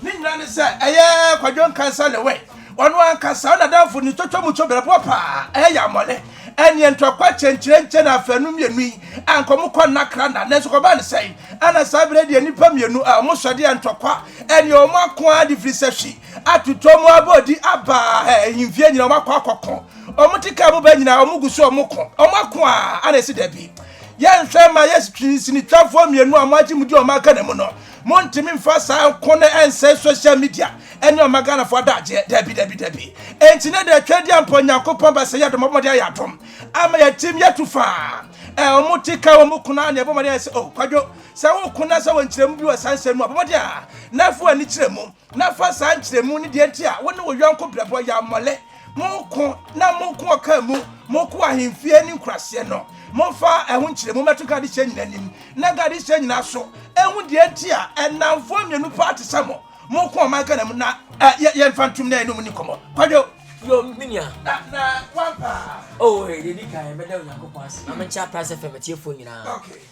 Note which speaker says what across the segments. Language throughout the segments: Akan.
Speaker 1: Ne nyinaa ne sɛ ɛyɛ Kwadwo Nkansah Lewe, ɔno ankasa, ɔna Danfo ne Twotwo Mutwo berɛboɔ paa, ɛyɛ Yammɔlɛ, ɛneɛ Ntɔkwa Kyenkyerenkye na afanu mmienu yi a anka ɔmo kɔ nna kra nna, nanso kɔbaa ne sɛn, ɛna saa berɛ yi deɛ nnipa mmienu a ɔmo sɔde a Ntɔkwa ɛneɛ ɔmo ako ara de firi sɛ hwi atotɔ ɔmo abɔ odi aba ɛɛ ahemfie nyinaa ɔmo akɔ akɔ ko, ɔmo te kaa mu ba nyinaa ɔmo gu so ɔmo ko, ɔmo ako a ɛna ɛse dabi yɛnhwɛ ma yɛ sinitwafoɔ mmienu a ɔmo agye mu di ɔmo aka na mu no. Montumi mfa saa nko no ɛnsɛe social media ɛne ɔma Ghanafoɔ adagyeɛ. Dabi, dabi, dabi. Enti na deɛ atwa adi ampa Onyankopɔn ba sɛ yɛdom ɔbɔmmɔden ayɛ adom ama yɛtim yɛtu faa. Ɛ ɔmo te ka wɔn kunu a na ɛbɔ mmɔden ayɛ sɛ oh kwadwo sɛ wo kunu na sɛ wɔ nkyerɛmu bi wɔ saa nsɛm mu a bɔmmɔden a na fa w'ani kyerɛ mu. na fa saa nkyerɛmu ne deɛ nti a wo ne wo yɔnko brɛbɔ yɛ amɔlɛ, moko na moko ɔkaa mu, moko ahemfie ne nkuraseɛ no, momfa ɛho nkyerɛmu mmɛto Gadehyɛ nyinaa anim, na Gadehyɛ nyinaa nso ɛhu deɛ nti a ɛnamfoɔ mmienu paa te sɛ mo, moko ɔman Ghana mu na yɛ, yɛmfa ntom na yɛne ɔmo ni nkɔmmɔ. Kwadwo. Yo, me nua. Na, na, wampa. Oh, eh, deɛ di
Speaker 2: kan, mɛda Onyankopɔn ase. Maame nkyɛ Aprans FM atiefoɔ nyinaa. Okay.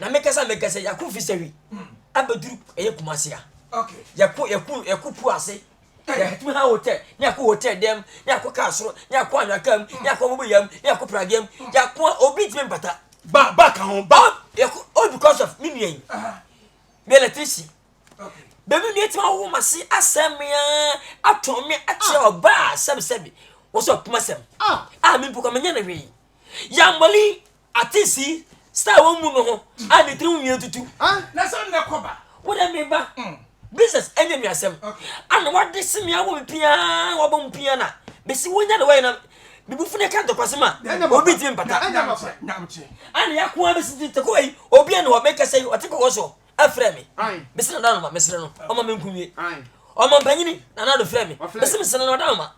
Speaker 2: Na me kasa me kasa yako fishery abeduru ɛyɛ kumasi ha yako
Speaker 1: yako yako pu
Speaker 2: ase yɛtumi ha hotel ne yako hotel dɛm ne yako kaa soro ne yako anwea kaa mu ne yako abubu yam ne yako pradeɛ mu yako a obi tumi mpata. ba ba ka ho
Speaker 1: ba. yako all because
Speaker 2: of me nua yi me electrician bɛmi nua tumi awo ma se asɛ mmea atɔn me akyerɛ ah. ɔbaa sɛbisɛbi wɔsɛ ɔpoma sɛm ah. a ah, me mpokɔ menyɛ no hwee yambɔli Ate si star wɔn mu no ho a ne tirim nwi atutu. Na sɛ nnɛ kɔ
Speaker 1: ba. Wo dɛ me ba.
Speaker 2: Business ɛnyɛ nwi asɛm. Ana wade se me awo me pia wabɔ mu pia na me se wonya ne wɔyɛ na me bu fune ka ntɔkwasɛm a obi ntumi mpata.
Speaker 1: Ana ya ko a
Speaker 2: besi ti tekoa yi obi ɛne hɔ me kasa yi ɔte kɔkɔ so ɛfrɛ me me se na danoma me sere no ɔma me nkunwie ɔma mpanyini na nado frɛ me me se me sere no danoma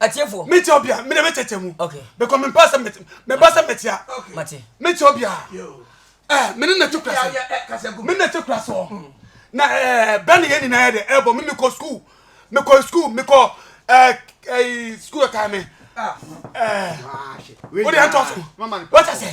Speaker 2: atiefoɔ
Speaker 1: metia obi
Speaker 2: a mede
Speaker 1: mɛkyɛkyɛ mu bɛkɔ mempɛ sɛ meba sɛ mɛtia
Speaker 2: metia obi a
Speaker 1: eh, mene na te kura se mene na te
Speaker 3: kura soɔ
Speaker 1: hmm. na eh, bɛne yɛ nyinaa yɛ dɛ ɛbɔ me mekɔ skul mekɔ skul mekɔ eh, skul ɛkae me wode ɛntɔ so wata sɛ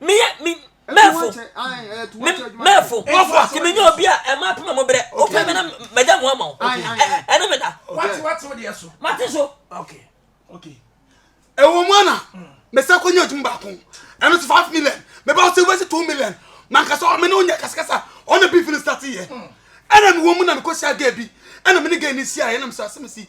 Speaker 2: meyɛ me mɛfo me mɛfo nti menyɛ obi a ɛma apem a mobrɛ wopɛ me na mɛda mo ama wo ɛne meda
Speaker 3: mate so
Speaker 1: ɛwɔ mu ana mesa kɔ nyɛ adwuma baako ɛno so five million mɛba wo sɛ wobɛsi two million mankasa me ne wonyɛ kasakasa ɔna bi fini starte yɛ ɛna mewɔ mu na mekɔhyia ga bi ɛna mene ga ni siaɛ ɛna mesɛ asɛm si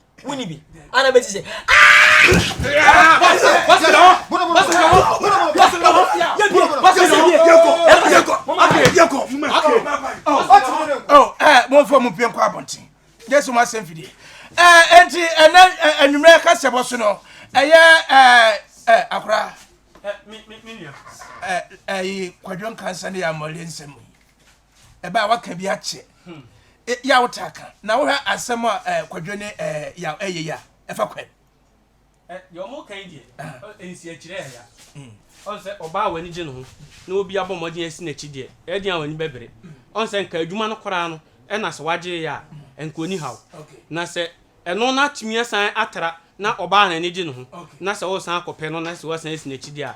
Speaker 2: wuni bi ana bɛ ti
Speaker 3: sɛ mɔfɔ mu pie nkɔ abɔnten yɛ so ma sɛm fidie ɛnti ɛnɛ anwummerɛ kasɛbɔ so no ɛyɛ akora ɛyi kwadwo nkansa ne yɛ amɔre nsɛm ɛbɛ a waka bi akyɛ e, yɛ a wotaa ka na wohwɛ asɛm a eh, kwadwo ne eh, ya ɛyɛ yɛ a ɛfa kwan deɛ
Speaker 4: ɔmo ka yi deɛ nsiakyerɛ ɛya ɔn sɛ ɔbaa w'ani gye ne ho na obi abɔ mmɔden asi n'akyi deɛ ɛdeɛ a w'ani bɛbere ɔn sɛ nka adwuma no koraa no ɛna sɛ wagye yɛ a nka ɔni haw na sɛ ɛno no atumi asan atra na ɔbaa n'ani gye ne ho na sɛ ɔresan akɔpɛ no na sɛ wasan asi n'akyi deɛ a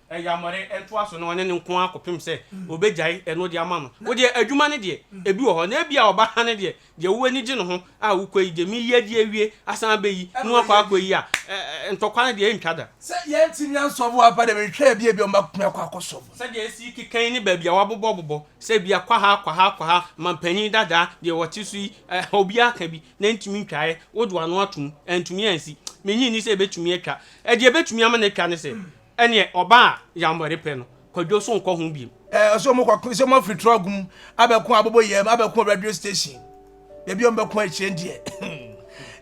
Speaker 4: Ayammɔrɛ ntoa so ne ɔne ne nko ara kɔpem sɛ ɔbɛgyae ɛno de ama no. Wo deɛ, adwuma no deɛ, ɛbi wɔ hɔ, na ebia ɔba ha no deɛ, deɛ wo ani gye no ho a wokɔ yi deɛ, meyi adi awie, asan abɛyi, na woakɔ akɔyi a, ɛ-ɛ-ɛ, ntɔkwa no deɛ, ɛntwa da. Sɛ yɛntumi
Speaker 1: ansɔvo ampa deɛ, menhwɛ a ebia, ebia wɔbɛtumi akɔ akɔsɔvo. Sɛdeɛ ɛsi keka
Speaker 4: yi ne baabi a wɔabobɔbobɔ, sɛ ebia kwaha, kwaha, kwaha, manpanin dadaa, deɛ wɔte so yi, ɛ-ɛ-ɛ, obiara ka bi, na ɛntumi ntwaeɛ, wodo ano atom, antumi ansi. Mennye nni sɛ ɛbɛtumi atwa. Ɛ-ɛ, deɛ ɛbɛtumi ama no atwa ne sɛ, Ɛneɛ ɔba a yambɔre pɛ no kwadwo so nkɔ ho biom. Ɛɛ sɛ ɔmo kɔ ko sɛ ɔmo
Speaker 1: afiri trɔg mu abɛko aboboyɛm abɛko radio station baabi a ɔmo bɛko akyire deɛ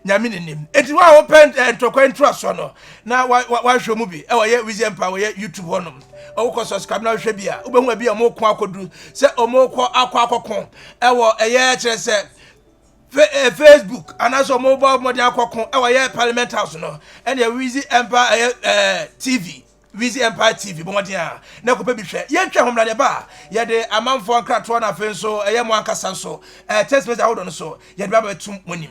Speaker 1: nyame ne nim eti wa a wopɛ ntɔkwa ntoasoɔ no na wa wa wahwɛ mu bi ɛwɔ yɛ wizɛ mpa wɔ yɛ youtube hɔ nom ɔwɔ kɔ subscribe na wahwɛ bi a wobɛhu abi a ɔmo ko akɔdu sɛ ɔmo kɔ akɔ akɔko ɛwɔ ɛyɛ kyerɛ sɛ Eh, facebook anaasɛ ɔmo bɔ mmɔden akɔko ɛwɔ eh, yɛ parliament house no ɛne wizi empire ɛyɛ eh, eh, tv wizi empire tv bɔ mmɔden a na ɛkɔpɛ bi hwɛ yɛntwa homra ne ba yɛde amanfoɔ nkratoɔ no afei nso ɛyɛ mo ankasa nso eh, text message ahodoɔ no so yɛde ba bɛtum mo nim